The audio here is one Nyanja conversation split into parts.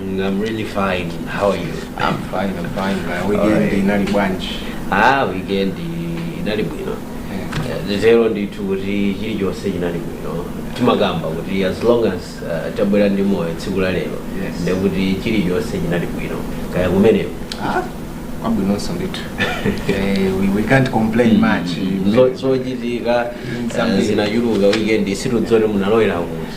Mm, I'm really fine. How are you? I'm fine, I'm fine. My weekend Alright. inali bwanji. Ah, weekend inali bwino. Yeah. Eh, tero ndithu kuti chilichonse chinali bwino. Timakamba kuti as long as uh, tabwera ndi moyo tsiku la lero Yes. nde kuti chilichonse chinali bwino. Kaya kumeneko. Ah, kwabwinonso ndithu. Eh, we, we can't complain much. Zo- Zochitika Zambiri. eh, zinachuluka weekend sitidziwa zoti munalowera kuti.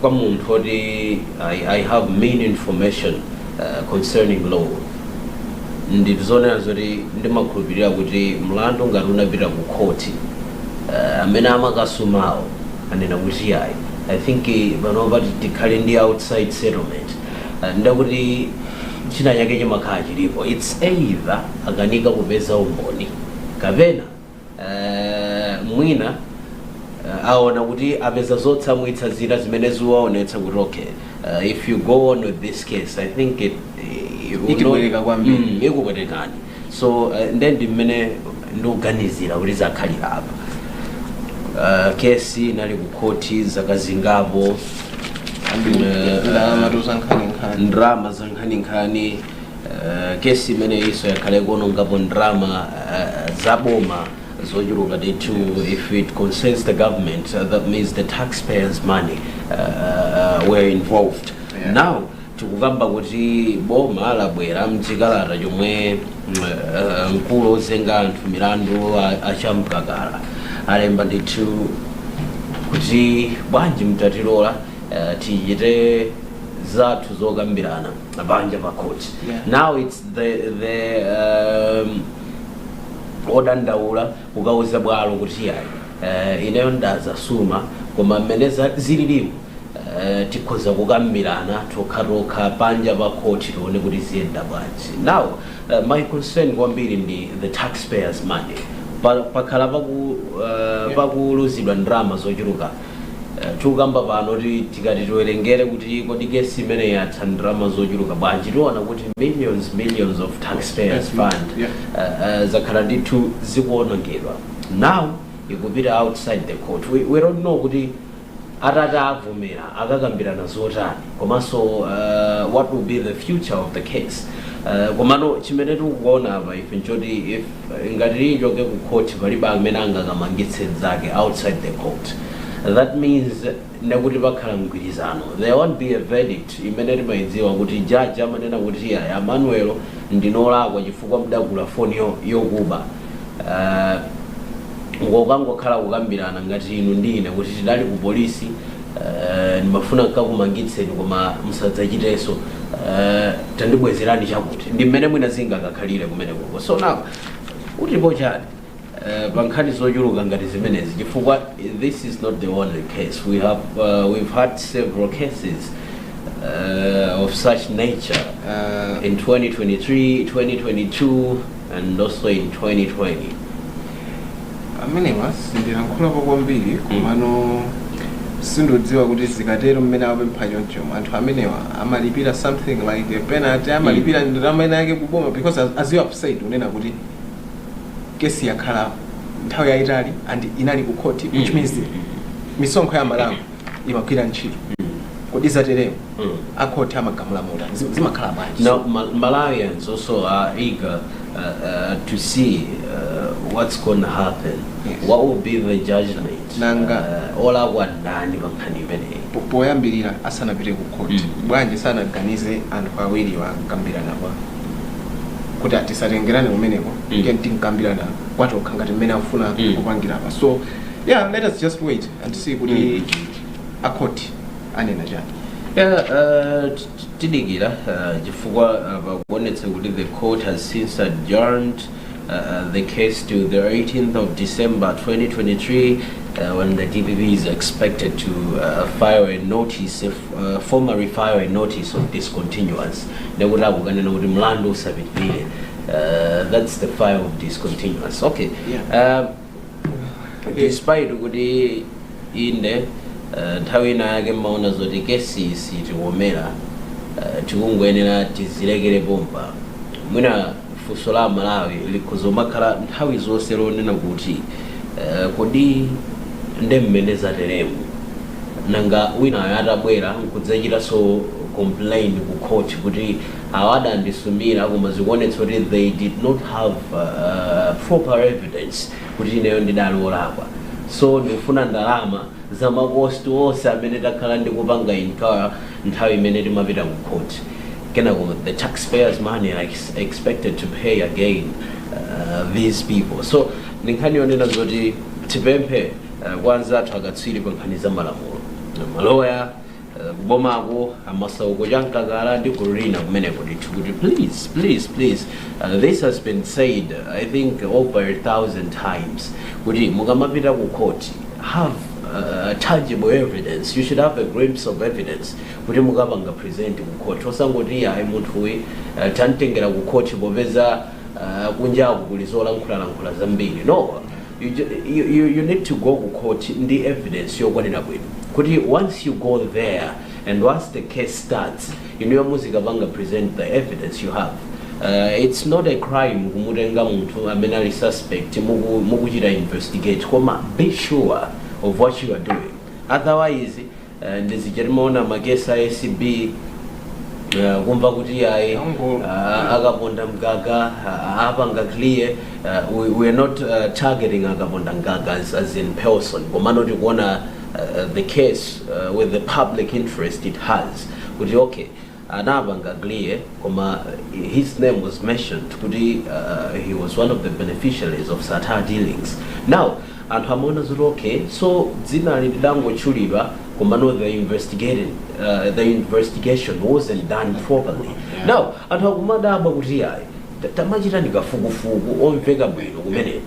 kwa munthu woti I, I have mean information uh, concerning law ndizonena zoti ndimakhulupirira kuti mlandu ngati unapita ku khoti uh, amene amakasumawo anena kuti ayi i think eh, panopa ti- tikhale ndi outside settlement uh, ndekuti china chake chimakhala chilipo its either akanika kupeza umboni kapena Eh, mwina eh, aona kuti apeza zotsamwitsa zina zimene ziwaonetsa kuti okay eh, if you go on with this case i think it, eh, you know- Itipweteka kwambiri. Mm, ikupwetekani so eh, nde ndi mmene ndikuganizira kuti zakhalira apa Eh, kesi inali kukhoti zaka zingapo Eh, ndalama zankhaninkhani ndalama zankhaninkhani Eh, kesi imeneyinso yakhala ikuonongapo ndalama eh, za boma zochuluka ndithu if it concerns the government uh, that means the taxpayers money uh, uh, were involved Yeah. now tikukamba kuti boma labwera mchikalata chomwe mm, eh, mkulu ozenga anthu milandu a- a Chamkakala alemba ndithu kuti bwanji mutatilola eh, tichite zathu zokambirana panja pa court. Yeah. Now it's the the um, odandaula kukauza bwalo kuti yayi uh, ineyo ndadzasuma koma mmene za- zililimu uh, tikhoza kukambirana tokha tokha panja pa court tione kuti ziyenda bwanji now uh, my concern kwambiri ndi the taxpayers money Pa- pakhala paku uh, pakuluzidwa ndalama zochuluka Eh, tikukamba pano kuti tikati tiwerengere kuti kodi kesi imeneyi yatha ndalama zochuluka bwanji tiona kuti millions millions of taxpayers Mhm. fund Yeah. eh, eh, zakhala ndithu zikuonongedwa now ikupita outside the court we, we don't know kuti atati avomera akakambirana zotani komanso uh, what will be the future of the case uh, komano chimene tikuona apa ife nchoti if ngati ichoke ku court palibe amene angakamangitse mzake outside the court that means ndekuti pakhala mgwirizano there won't be a verdict imene timaidziwa kuti judge amanena kuti ayi a Manuel ndinu olakwa chifukwa mudagula foni yo- yokuba uh, nkukangokhala kukambirana ngati inu ndi ine kuti tidali ku polisi Eh, ndimafuna nkakumangitseni koma musadzachitenso Eh, tandibwezerani chakuti ndi mmene mwina zingakakhalire kumene kuko so now mukutipo chani Eh, pa nkhani zochuluka ngati zimenezi chifukwa this is not the only case we have uh, we've had several cases uh, of such nature uh, in 2023 2022 and also in 2020. amenewa sindilankhulapo kwambiri komano sindidziwa kuti zikatero mmene apempha choncho anthu amenewa amalipira something like a penalty amalipira ndalama ina yake kuboma because as, as you have said kunena kuti kesi yakhala nthawi yayitali and inali ku court which Mm. means misonkho ya Amalawi imagwira ntchito kodi zatereo Mm. akhoti amagamula motani zi- zimakhala bwanji Now, Mal- Malawians also are eager uh, uh, to see uh, what's going to happen. Yes. What will be the judgment? Nanga. Uh, olakwa ndani pankhani imeneyi. Po- poyambirira asanapite ku khoti Mm. bwanji sanaganize anthu awiriwo kukambirana kwa kuti ah tisatengerane kumeneko Mm. tiyeni tikambirane kwa tokha ngati mmene akufuna Mm. kupangira apa so yeah let us just wait anthu si kuti a court anena chani Yeah, uh, t- t- tidikira uh, chifukwa uh, pakuonetsa kuti the court has since adjourned uh, uh, the case to the 18th of December 2023 uh, when the DPP is expected to uh, file a notice if, uh, formally file a notice of discontinuance nekuti akukanena kuti mlandu usapitirire uh, that's the file of discontinuance okay Yeah. uh, despite kuti inde eh, nthawi ina yake mmaona zoti kesi siitikomera eh, tikungoyenera tizilekere pompa mwina funso la Amalawi likhoza kumakhala nthawi zonse lonena kuti eh, kodi nde mmene zateremu nanga winayo atabwera nkudzachitanso complain ku court kuti Awa adandisumira koma zikuonetsa kuti they did not have proper evidence kuti ineyo ndidali olakwa so ndikufuna ndalama za ma cost onse amene ndakhala ndikupanga incur nthawi imene timapita ku court kenako the tax payers money are ex expected to pay again uh, these people so ndi nkhani yonena zoti tipemphe uh, kwa anzathu akatswiri pa nkhani za malamulo maloya kubomako a Masauko Chamkakala ndi gulu lina kumeneko ndithu kuti please please please uh, this has been said i think over a thousand times kuti mukamapita ku court have uh, tangible evidence you should have a glimpse of evidence kuti mukapanga present ku court osangoti ayi munthu uyi uh, tantengera ku court popeza uh, kunjaku kuli zolankhulalankhula zambiri no You ju you you you need to go ku court ndi evidence yokwanira bwino kuti once you go there and once the case starts inuyo muzikapanga present the evidence you have uh, it's not a crime kumutenga munthu amene ali suspect muku, mukuchita investigate koma be sure of what you are doing otherwise Eh, ndi zija timaona magesi a acb eh, kumva kuti ayi Ango- ah, akaponda mgaga ah, apanga clear ah, we, we are not ah, targeting akaponda mgaga as, as in person komano tikuona ah, the case ah, with the public interest it has kuti okay anapanga clear koma his name was mentioned kuti uh, he was one of the beneficiaries of sattar dealings now anthu amaona zoti okay so dzina lidangotchulidwa komano the investigating uh, the investigation wasn't done properly now anthu akumadabwa kuti ayi ta- tamachita ndikafukufuku omveka bwino kumeneku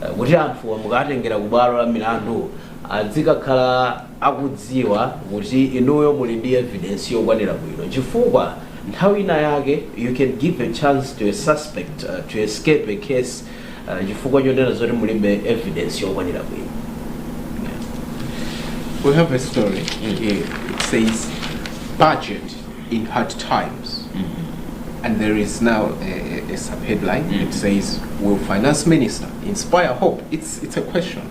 Eh, kuti anthu amukatengera ku bwalo la milandu azikakhala akudziwa kuti inuyo muli ndi evidence yokwanira bwino chifukwa nthawi ina yake you can give a chance to a suspect uh, to escape a case uh, chifukwa chonena zoti mulibe evidence yokwanira bwino We have a story here. It says, budget in hard times. And there is now a, a, a sub-headline. It says, will finance minister inspire hope? It's, it's a question.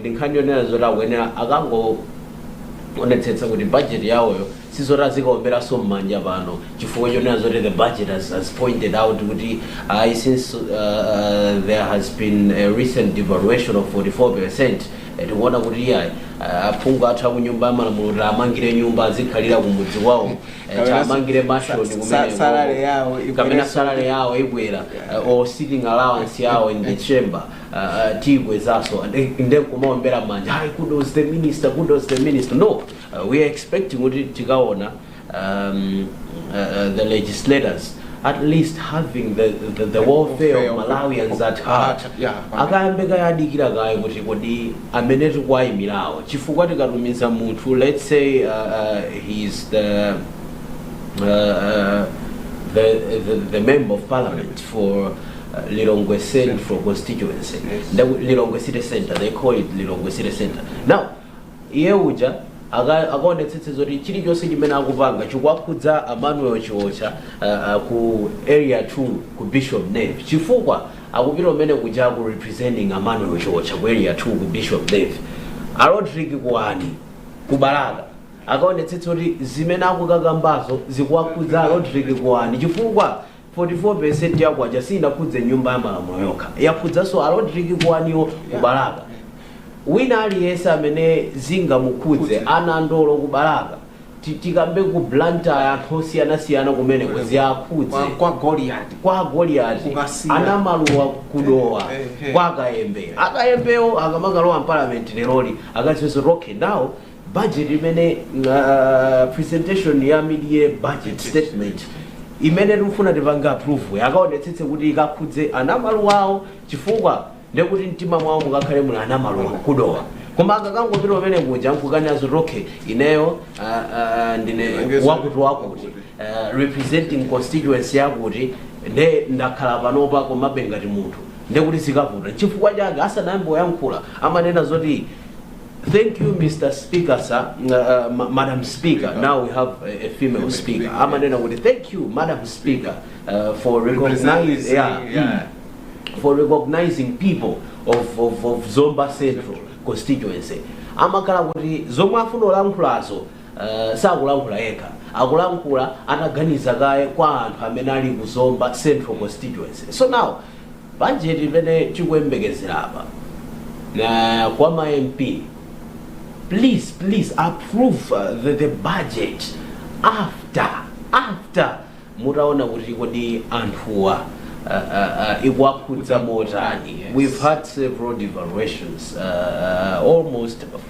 ndi nkhani yonena zoti akuyenera akangoonetsetse kuti budget yawoyo sizoti azikaomberana mmanja pano chifukwa chonena zoti the budget has, has pointed out kuti uh, since uh, uh, there has been a recent devaluation of 44 percent tikuona kuti iyayi aphungu athu akunyumba ya malamulo tiwamangire nyumba azikhalira kumudzi kwawo eh, Kapena tiwamangire sa- mashoni sa- kapena salary yawo ikwere kapena salary yawo ikwera uh, or sitting allowance yawo in the chamber ah, ah, tiyibwezaso and eh, nde kumaombera manja hi kudos the minister kudos the minister no uh, we are expecting kuti tikaona um, uh, uh, the legislators at least having the, the, the welfare Welfare of of- malawians at of- heart at- yeah, at- akayambe kayadikira kaye kuti kodi amene tikuwayimirawo chifukwa tikatumiza munthu let's say uh, uh, he's the uh, uh, the, the, the member of parliament for Lilongwe Central constituency. Yes. That would- Lilongwe City Center. They call it Lilongwe City Center. Now, iye uja aka- akaonetsetse zoti chilichonse chimene akupanga chikuwakhudza Emmanuel Chiwocha uh, uh, ku area 2 ku Bishop Nave chifukwa akupita kumene kuja ku representing Emmanuel Chiwocha ku area 2 ku Bishop Nave. A Rodrick Kuwani ku Balaka akaonetsetse kuti zimene akukakambazo zikuwakhudza Rodrick Kuwani chifukwa 44% ya kwacha siinakhudze nyumba ya malamulo yokha, yakhudzaso a Rodrick Kuwaniwo ku Balaka. Wina aliyese amene zingamukhudze, a Nandolo ku Balaka, ti- tikambe ku Blantyre anthu osiyanasiyana kumeneko Kwa, ziwakhudze. kwa Goliath. Kwa Goliath, Ku Kasiya. a Namaluwa ku Dowa, Eh, eh. kwa Kayembe. A Kayembewo akamakalowa mparliament leroli, akadziwe zoti okay now budget imene uh, presentation ya mid-year budget statement imene tikufuna tipange approve akaonetsetse kuti ikakhudze a Namaluwawo chifukwa ndekuti mtima mwawo mukakhale muli a Namaluwa ku Dowa koma akakangopita kumene kuja nkukanena zoti okay ineyo uh, uh, ndine Ndilengeza. wakuti wakuti uh, representing constituency yakuti nde ndakhala panopa komabe ngati munthu ndekuti zikavuta chifukwa chake asanayambe kuyankhula amanena zoti Thank you, Mr. Speaker, sir. Uh, uh, ma- Madam Speaker, now we have a, a female Female speaker. speaker, I'm yeah. with Thank you, Madam Speaker, uh, for recognizing, Representing, yeah, yeah. mm, for recognizing people of, of, of Zomba Central constituency. amakhala kuti zomwe afuna olankhulazo uh, sakulankhula yekha akulankhula ataganiza kaye kwa anthu amene ali ku Zomba Central constituency. So now Budget imene tikuyembekezera apa kwa ma MP please please approve the, the budget after after mutaona kuti kodi anthuwa uh, uh, ikuwakhudza motani we've had several devaluations uh, almost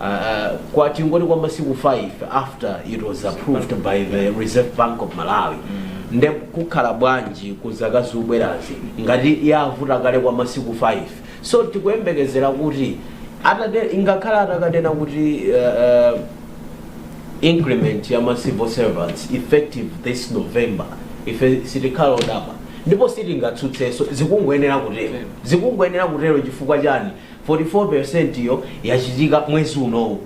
Uh, kwa tingoti kwa masiku 5 after it was approved by the reserve bank of malawi nde kukhala bwanji ku zaka zikubwerazi ngati yavuta kale kwa masiku 5 so tikuyembekezera kuti atate ingakhale atakanena kuti uh, uh, increment ya ma civil servants effective this november ife sitikhala odabwa ndipo sitingatsutseso zikungoyenera kutero zikungoyenera kutero chifukwa chani 44 percent yo yachitika mwezi unowu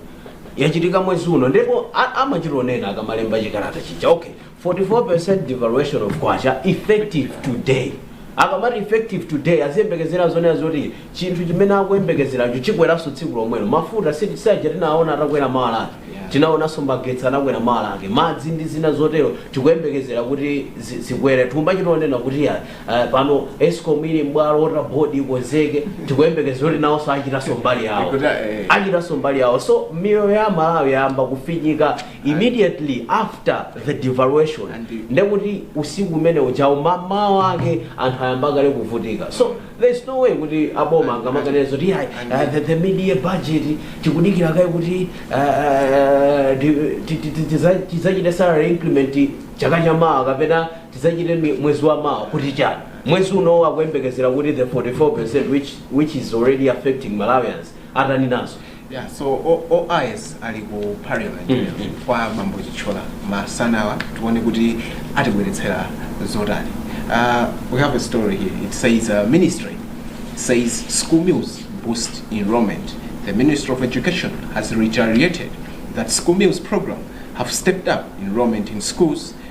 yachitika mwezi uno ndipo a- amachitonena akamalemba chikalata chija okay 44 percent devaluation of kwacha effective today akamati effective today aziyembekezera zonena zoti chinthu chimene akuyembekezeracho chikweranso tsiku lomwelo mafuta si- saja tinaona atakwera mawa lake Yeah. tinaonanso magetsi anakwera mawa lake madzi ndi zina zotero tikuyembekezera kuti zi- zikwere thumba chitonena kuti ya Eh, pano escom ili m'bwalo water board ikonzeke tikuyembekeza kuti nawonso achitanso mbali yawo Kuti, eh. achitanso mbali yawo so miyoyo ya malawi yayamba kufinyika immediately after the devaluation And the- ndekuti usiku umene ujawo mamawa ake anthu ayamba kale kuvutika so there's no way kuti aboma angamaganize kuti ayi and- uh, the, the mid-year budget tikudikira kaye kuti uh, ti- ti- ti- ti- tiza- tizachite salary increment chaka chamawa kapena tidzachite mi- mwezi wa mawa kuti chani mwezi unowo akuyembekezera kuti the 44 which, which is already affecting malawians atani nazo Yeah, so O- OIS ali ku parliament Mm, mm. kwa bambo Chichola masanawa tione kuti atibweretsera zotani. Uh, we have a story here. It says uh, ministry says school meals boost enrollment. The Ministry of Education has reiterated that school meals program have stepped up enrollment in schools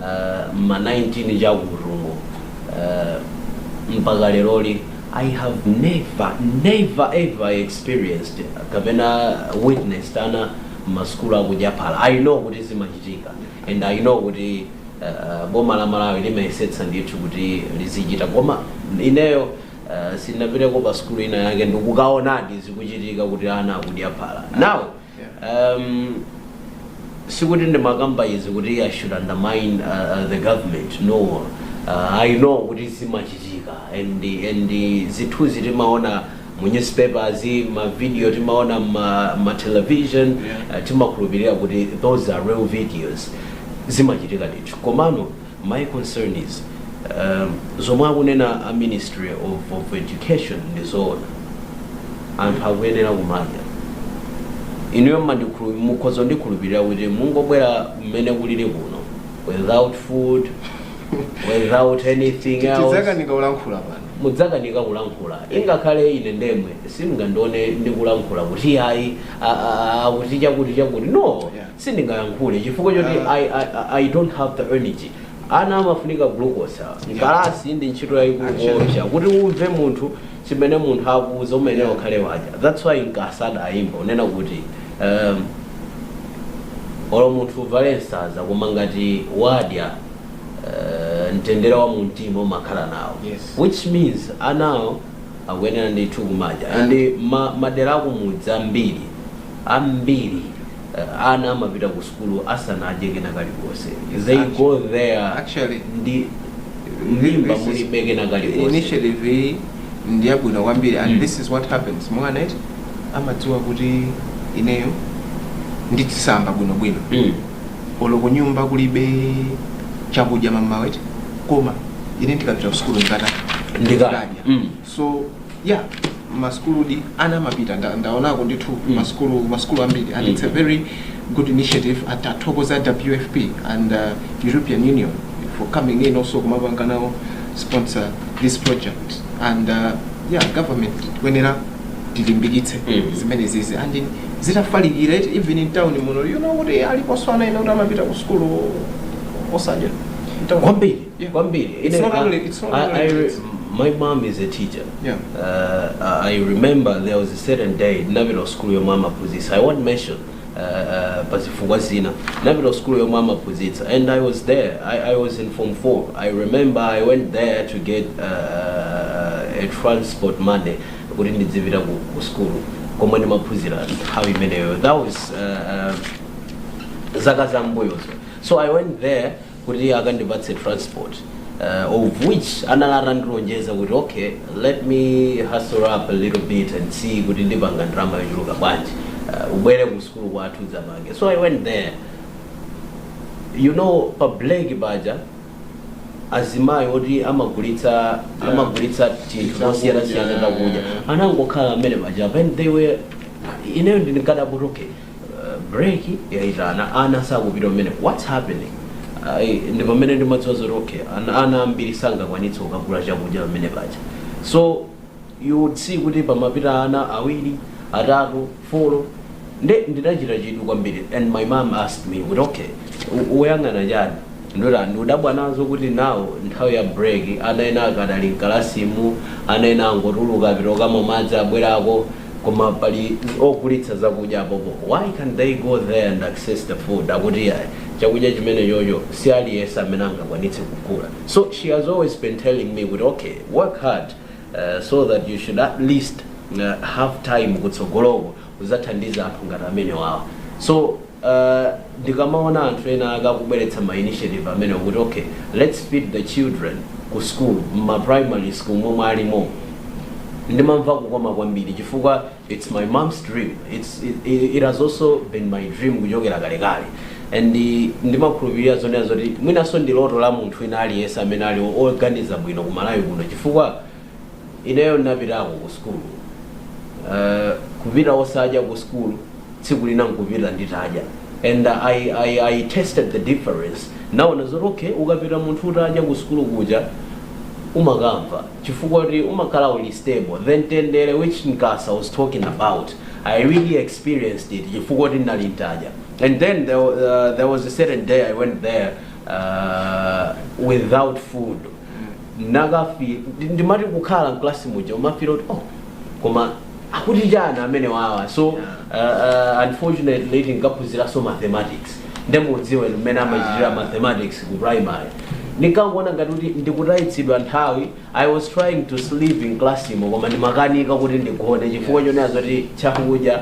uh, ma 19 chakutumo uh, mpaka leroli i have never never ever experienced kapena witnessed ana m'masukulu akudya phala i know kuti zimachitika and i know kuti uh, boma la malawi limayesetsa ndithu kuti lizichita koma ineyo uh, sinapiteko pa sukulu ina yake ndikukaonadi zikuchitika kuti ana akudya phala now Um, sikuti ndimakamba izi kuti i should undermine uh, uh, the government no uh, i know kuti zimachitika and, and zithunzi timaona mu newspapers mavideo timaona m'ma, m'ma television Yeah. uh, timakhulupirira kuti those are real videos zimachitika ndithu komano My concern is um, zomwe akunena a ministry of, of education ndi zoona anthu akuyenera kumadya inuyo mmandikhulu- mukhoza ndikhulupirira kuti mungobwera mmene kulili kuno without food without anything else tidzakanika kulankhula pano mudzakanika kulankhula ingakhale ine ndemwe simungandione ndikulankhula kuti ayi a- a- a- akuti chakuti chakuti no Yeah. sindingayankhule chifukwa choti I, I, I- I don't have the energy ana amafunika glucose awa. mkalasi ndi ntchito yayikulu koopsa kuti umve munthu chimene munthu akuuza umayenera ukhale wadya that's why Nkasa adayimba kunena kuti um, olo munthu uvale nsaza koma ngati wadya uh, mtendere wa mumtima umakhala nawo Yes. which means anawo akuyenera ndithu kumadya and ma, madera akumudzi ambiri ambiri ana amapita ku sukulu asanadye kena kalikonse they go there Actually, ndi mimba this is- mulibe kena kalikonse initiative iyi ndi yabwino kwambiri and Mm. this is what happens mwana eti amadziwa kuti ineyo ndidzisamba bwinobwino Mm. olo kunyumba kulibe chakudya mmawa eti koma ine ndikapita kusukulu ndikata ndikadya Mm. so yeah masukuludi ana amapita nda- ndaonako ndithu Mm. masukulu masukulu ambiri and Mm. it's a very good initiative tithokoza wfp and uh, european union for coming in also kumapanga nawo sponsor this project and uh, yeah government kuyenera tilimbikitse Mm. zimenezizi and in- zitafalikira eti even in town muno you know kuti aliponso ana ena kuti amapita ku sukulu osadya In town. kwambiri Yeah. kwambiri It's Ine- not I- only- it's not I- only I re- kids. my mom is a teacher Yeah. uh, i remember there was a certain day ndinapita ku sukulu yomwe amaphunzitsa i won't mention uh, uh, pa zifukwa zina ndinapita ku sukulu yomwe amaphunzitsa and i was there I, i was in form 4 i remember i went there to get uh, a transport money kuti ndidzipita ku, ku school komwe ndimaphunzira nthawi imeneyo that was uh, uh, zaka za mbuyozo so i went there kuti akandipatse transport uh, of which anali atandilonjeza kuti okay let me hustle up a little bit and see kuti ndipanga ndalama yochuluka bwanji uh, ubwere ku sukulu kwathu udzapange so i went there you know pa break paja azimayi oti amagulitsa amagulitsa tinthu tosiyana siyana takudya anangokhala pamene paja and they were ineyo ndinkadabwa kuti okay break yayitana ana sakupita pamene what's happening Ai, ndi pamene ndimadziwa zoti okay ana, ana ambiri sangakwanitse kukagula chakudya pamene paja so you would see kuti pamapita ana awiri atatu folo nde ndidachita chidwi kwambiri and my mom asked me kuti okay u- uyang'ana chani ndati ndudabwa nazo kuti nawo nthawi ya break ana ena akadali mkalasimu ana ena angotuluka apita kukamwa madzi abwerako koma pali ogulitsa zakudya apopo why can't they go there and access the food akuti ayi chakudya chimene chocho si aliyense amene angakwanitse kugula so she has always been telling me kuti okay work hard uh, so that you should at least uh, have time kutsogoloko uzathandiza anthu ngati amenewawa so Ndikamaona anthu ena ake akubweretsa ma initiative amenewa kuti okay let's feed the children ku school mma primary school momwe alimo ndimamva kukoma kwambiri chifukwa it's my mom's dream it's it, it has also been my dream kuchokera kalekale and ndimakhulupirira zonena zoti mwinanso ndi loto la munthu wina aliyense amene ali oganiza bwino ku Malawi kuno chifukwa Ineyo ndinapitako ku sukulu uh, kupita osadya ku sukulu tsiku lina nkupita nditadya and I, I, I tasted the difference naona zoti okay ukapita munthu utadya ku sukulu kuja umakamva chifukwa kuti umakhala uli stable the mtendere which Nkasa was talking about i really experienced it chifukwa kuti ndinali nditadya and then there, wa- uh, there was a certain day i went there uh, without food nakafi ndi- ndimati kukhala mklasi muja umafila kuti oh koma akuti chani amene wawa so uh, uh, unfortunately tinkaphunziranso mathematics nde mukudziwanso mmene amachitira Ah. mathematics ku primary ndinkangoona ngati kuti ndikutayitsidwa nthawi i was trying to sleep in class imo koma ndimakanika kuti ndigone chifukwa chonena zoti chakudya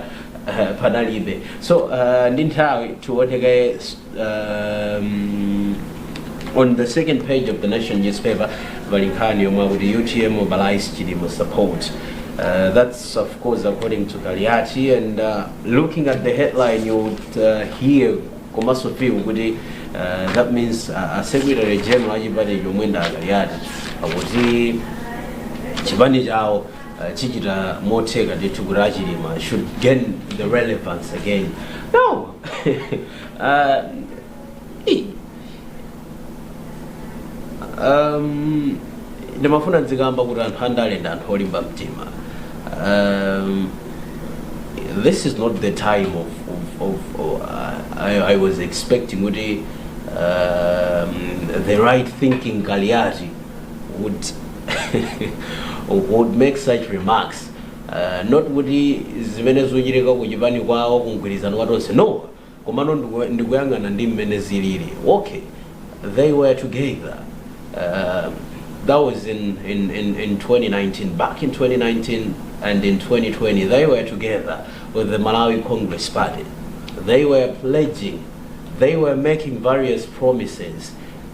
uh, panalibe so uh, ndi nthawi tiwone um, on the second page of the nation newspaper pali nkhani yomwe akuti UTM mobilises Chilima support Uh, that's of course according to Kaliati and uh, looking at the headline you would uh, hear komanso feel kuti uh, that means uh, a secretary general achipani chomwe ndi Kaliati akuti chipani chawo uh, chichita motheka ndithu kuti a Chilima should gain the relevance again no Ah, eh. um, ndimafuna ndizikamba kuti anthu andale ndi anthu olimba mtima um, this is not the time of, of, of, of uh, I, I was expecting kuti um, the right thinking Kaliati would would make such remarks not kuti zimene zochitika ku chipani kwawo ku mgwirizano wa tonse no komano ndiku- ndikuyang'ana ndi mmene zilili okay they were together uh, that was in, in, in, in 2019 back in 2019 and in 2020 they were together with the malawi congress party they were pledging they were making various promises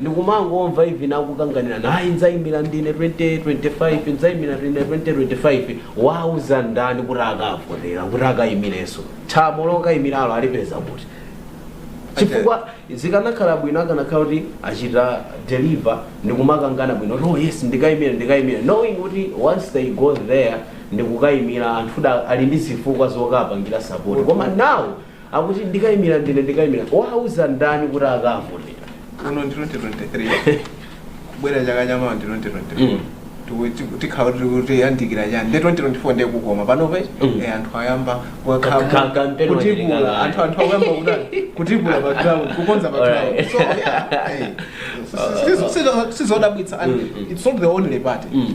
ndikumangowamva even akukanganirana ayi ndzaimira ndine 2025 ndzaimira ndine 2025 wauza ndani kuti akavotera kuti akaimirenso thamo lokaimiralo alipeza kuti chifukwa zikanakhala bwino akanakhala kuti achita deliver ndikumakangana bwino kuti oh yes ndikaimira ndikaimira knowing kuti once they go there ndikukaimira anthu da ali ndi zifukwa zokapangira support koma now Akuti ndikaimira ndine ndikaimira. Wauza ndani kuti akavotera? Uno ndi 2023. Kubwera chaka cha mawa ndi 2023. Mm. Tiku- tiku- tikhala kuti kuti yandikira chani ndi 2024 ndiye kukoma panopa Mm. eh, anthu ayamba Ka- ka- wakhamu kampeni kutibula wachilingana. anthu anthu akuyamba kutani kutibula pa ground kukonza pa ground Alright. so yeah eh, si- si- si- si- sizodabwitsa and Mm, mm. it's not the only party Mm.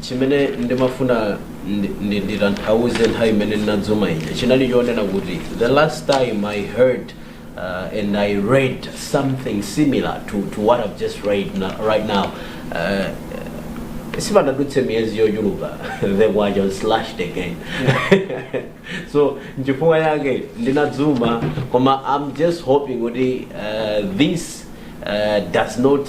chimene ndimafuna ndi- ndi- nditanthauze nthawi imene ndinadzuma ija chinali chonena kuti the last time i heard uh, and i read something similar to, to what i've just read na- right now uh, sipanadutse miyezi yochuluka the wage was slashed again so nchifukwa chake ndinadzuma koma i'm just hoping kuti uh, this uh, does not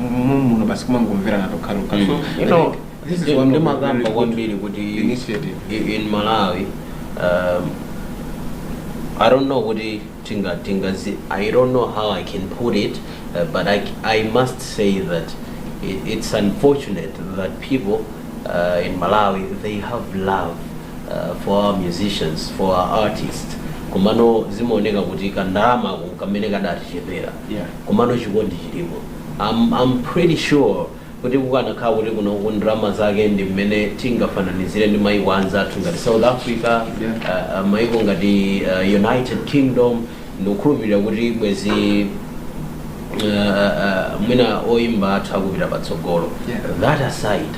mommuno basi kumangomverana tokhatokha so Mm. You know, this is ndi- one of the ndimakamba very good kwambiri kuti initiative. i- in malawi um, i don't know kuti tinga tingazi i don't know how i can put it uh, but I, c- i must say that it, it's unfortunate that people uh, in malawi they have love uh, for our musicians for our artists komano zimaoneka kuti kandalama ku kamene kadatichepera komano chikondi chilipo I'm I'm pretty sure kuti kukanakhala kuti kunoku ndalama zake ndi mmene tingafananizire ndi maiko anzathu ngati south africa uh, uh, maiko ngati uh, united kingdom ndikukhulupirira kuti bwezi uh, uh, mwina oyimba athu akupita patsogolo Yeah. that aside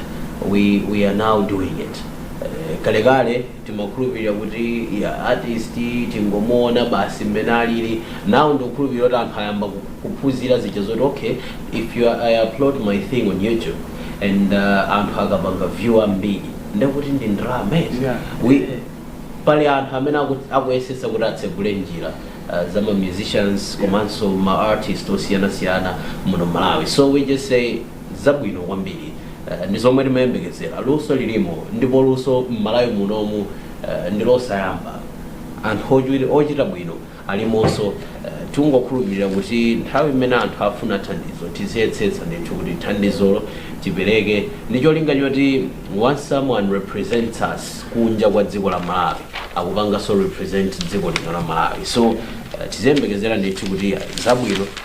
we, we are now doing it uh, kalekale timakhulupilira kuti ya artist tingomuona basi mmene alili now ndikukhulupilira kuti anthu ayamba ku- kuphunzira zija zoti okay if you ah, i upload my thing on youtube and uh, anthu akapanga view ambiri ndekuti ndi ndalama eti. Yeah. We- pali anthu amene aku- akuyesesa kuti atsegule njira uh, za ma musicians komanso ma artist osiyanasiyana muno mmalawi so we just say zabwino kwambiri ndi zomwe timayembekezera luso lilimo ndipo luso mmalawi munomu ndilosayamba anthu ochita bwino alimonso tingokhulupilira kuti nthawi imene anthu afuna thandizo tiziyesetsa ndithu kuti thandizolo tipereke ndi cholinga choti once someone represents us kunja kwa dziko la malawi akupanganso represent dziko lino la malawi so tiziyembekezera ndithu kuti zabwino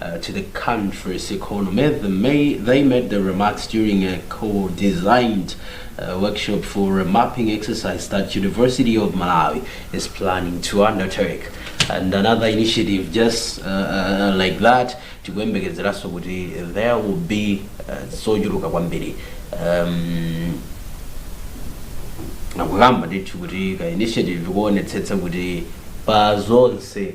to the country's economy, they made the remarks during a co-designed uh, workshop for a mapping exercise that University of Malawi is planning to undertake and another initiative just uh, uh, like that tikuyembekezeranso kuti there will be uh, zochuluka kwambiri um, nakukamba ndithu kuti ka initiative kuonetsetsa kuti pa zonse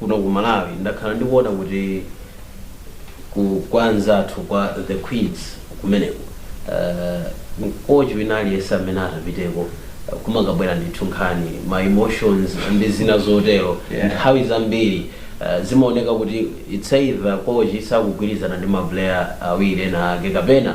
kuno ku Malawi ndakhala ndikuona kuti ku kwa anzathu kwa the Queens kumeneko uh, mkochi wina aliyense amene atapiteko uh, kumangabwera ndithu nkhani ma emotions ndi zina zotero Yeah. nthawi zambiri uh, zimaoneka kuti it's either kochi sakugwirizana ndi maplayer awiri ena ake kapena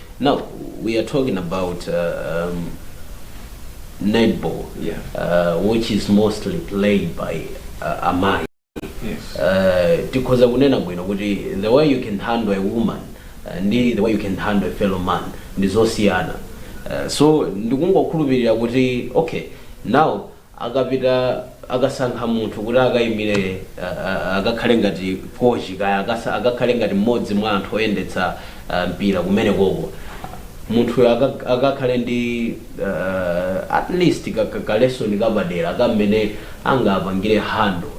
Now we are talking about uh, um, netball, Yeah. uh, which is mostly played by uh, amai. Yes. Uh, tikhoza kunena bwino kuti the way you can handle a woman uh, ndi the way you can handle a fellow man ndi zosiyana uh, so ndikungokhulupirira kuti okay now akapita akasankha munthu kuti akaimire akakhale ngati kochi kaya akakhale ngati mmodzi mwa anthu oyendetsa mpira kumenekoko munthuyo akakhale ndi at least ka lesson kapadera ka mmene angapangire handle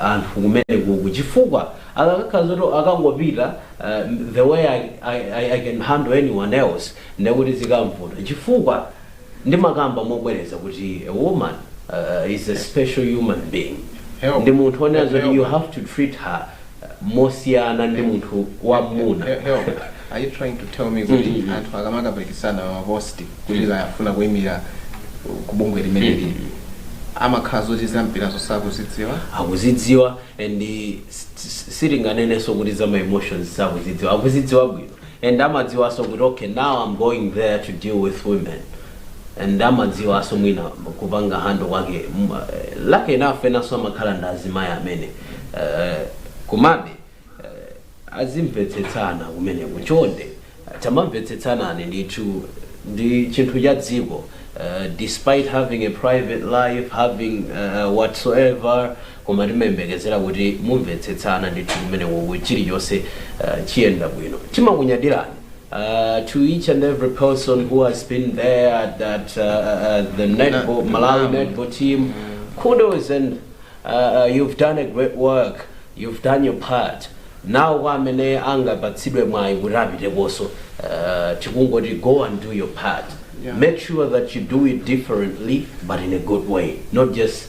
anthu kumenekoko chifukwa akakhala zoti akangopita the way I can handle anyone else ndekuti zikamvuta chifukwa Ndimakamba mobwereza kuti a woman is a special human being ndi munthu onena zoti you have to treat her mosiyana ndi munthu wamuna. Help, are you trying to tell me kuti anthu akamakapikisana ma post kuti kaya afuna kuimira ku bungwe limeneli amakhala zoti zampira zosakuzidziwa? akuzidziwa and sitinganenenso kuti za ma emotions sakuzidziwa akuzidziwa bwino and amadziwaso kuti okay now I'm going there to deal with women and amadziwaso mwina kupanga handle kwake M- eh, lucky enough enaso amakhala ndi azimayi amene eh, komabe eh, azimvetsetsana kumeneko chonde eh, tamamvetsetsanani ndithu ndi chinthu cha dziko eh, despite having a private life having eh, whatsoever Koma timayembekezera kuti mumvetsetsana ndithu kumenekoko chilichonse chiyenda bwino. Timakunyadirani to each and every person who has been there at that the netball Malawi netball team kudos and you've done a great work, you've done your part. Now kwa amene angapatsidwe mwayi kuti apitekonso tikungoti go and do your part. Make sure that you do it differently but in a good way not just.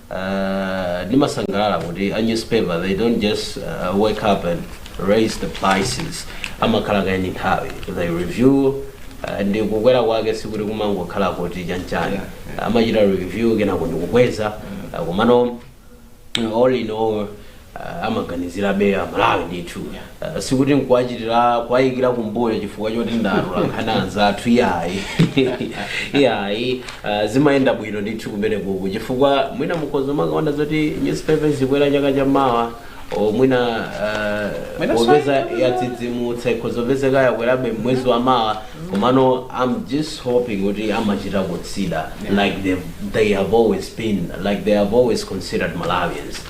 Ndimasangalala kuti a newspaper they don't just wake up and raise the prices amakhala kaye ndi nthawi they review ndi kukwera kwake sikuti kumangokhala kuti chanchani amachita review kenako ndikukweza komano all in all amaganizirabe Amalawi ndithu sikuti nkuwachitira kuwayikira kumbuyo chifukwa choti ndatula nkhani anzathu iyayi iyayi ah, zimayenda bwino ndithu kumene kuku chifukwa mwina mukhoza kumakaona zoti newspaper zikwera chaka cha mawa o mwina ah, Mwina popeza sayi- yadzidzimutsa ikhoza kupezeka yakwerabe mwezi wa mawa komano i'm just hoping kuti amachita consider like they, they have always been like they have always considered malawians